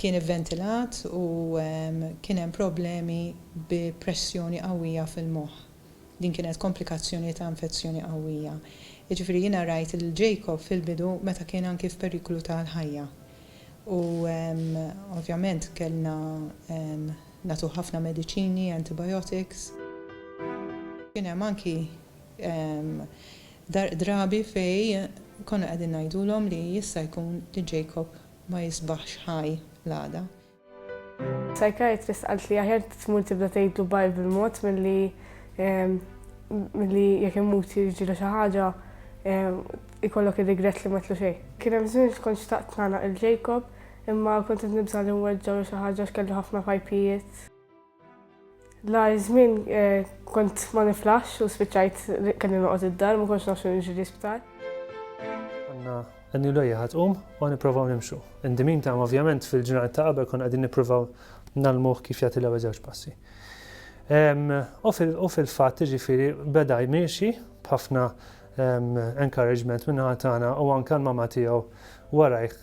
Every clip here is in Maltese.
kien ivventilat u kien hemm problemi bi pressjoni qawwija fil-moħħ. Din kienet komplikazzjoni ta' infezzjoni qawwija. Jiġifieri jiena rajt lil Jacob fil-bidu meta kien anki f'periklu tal-ħajja. U ovvjament kellna nagħtuh ħafna mediċini, antibiotics. Kien hemm anki Dar drabi fejn konna qegħdin ngħidulhom li jista' jkun li Jacob ma jisbaħx ħaj l-għada. Psychiatrist qalt li aħjar tmur tibda tgħidlu bye bil-mod milli milli jekk imut jiġilu xi ħaġa jkollok ir-rigrett li m'għedtlu xejn. Kien hemm żmien li kont xtaqt nagħlaq lil Jacob imma kont qed nibża' li nweġġgħu jew xi ħaġa għax kellu ħafna pajpijiet. L-agħar żmien kont ma niflaħx u spiċċajt kelli noqgħod id-dar, ma kontx naf x'inhu jiġri l-isptar. Għandna għanni l-għajja ħatqum u niprofaw nimxu. Indimin ta' ovvjament fil-ġurnat ta' qabel kon għadin niprofaw nalmuħ kif jagħti l-ewwel żewġ passi. U fil-fatt ġifiri beda jmiexi b'ħafna encouragement minn ħatana u anka l-mama tiegħu warajh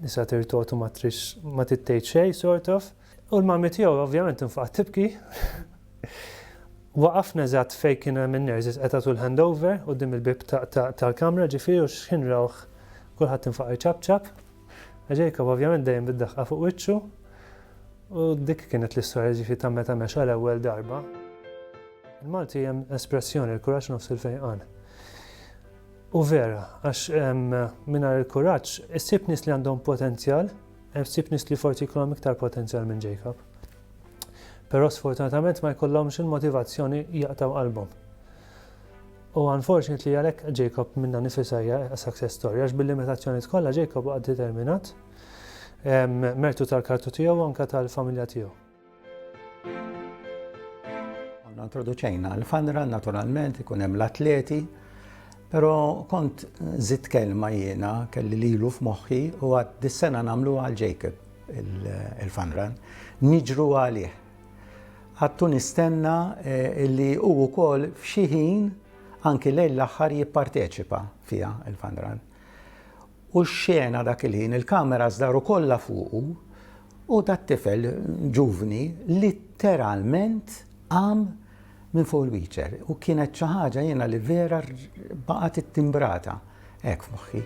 nisa tirtotu ma trix ma tittejt xej sort of. U l-mami tiegħu ovvjament infaqgħet tibki. Waqafna eżatt fejn kien hemm in-nurses qed jagħtu l-handover quddiem il-bieb tal-kamra ġifieri u x'ħin rawh kulħadd infaq iċapċap. Jacob ovvjament dejjem bid-daħqa fuq wiċċu. U dik kienet l-istorja ġifieri ta' meta mexa l-ewwel darba. Il-Malti hemm espressjoni l-kuraġġ nofs il-fejqan. U vera, għax mingħajr il-kuraġġ issib nies li għandhom potenzjal Hemm ftit nies li forsi jkollhom iktar potenzjal minn Jacob. Però sfortunatament ma jkollhomx il-motivazzjoni jaqtgħu qalbhom. U unfortunately għalhekk Jacob minna nifisa hija success story għax bil-limitazzjoni tkollha Jacob għad determinat mertu tal-kartu tiegħu anka tal-familja tiegħu. Għanna introduċejna l-fanra naturalment ikun hemm l-atleti, però kont żid kelma jiena kelli lilu f'moħħi u għad dis-sena nagħmlu għal Jacob il-fanran. Niġru għalih. Għattu nistenna eh, li u wkoll f'xi ħin anki lejn l-aħħar jipparteċipa fiha il-fanran. U x-xena dak il-ħin, il-cameras daru kollha fuqu u dat-tifel ġuvni litteralment qam minn fuq il-wheelchair u kienet xi ħaġa jiena li vera baqgħet ittimbrata hekk f'moħħi.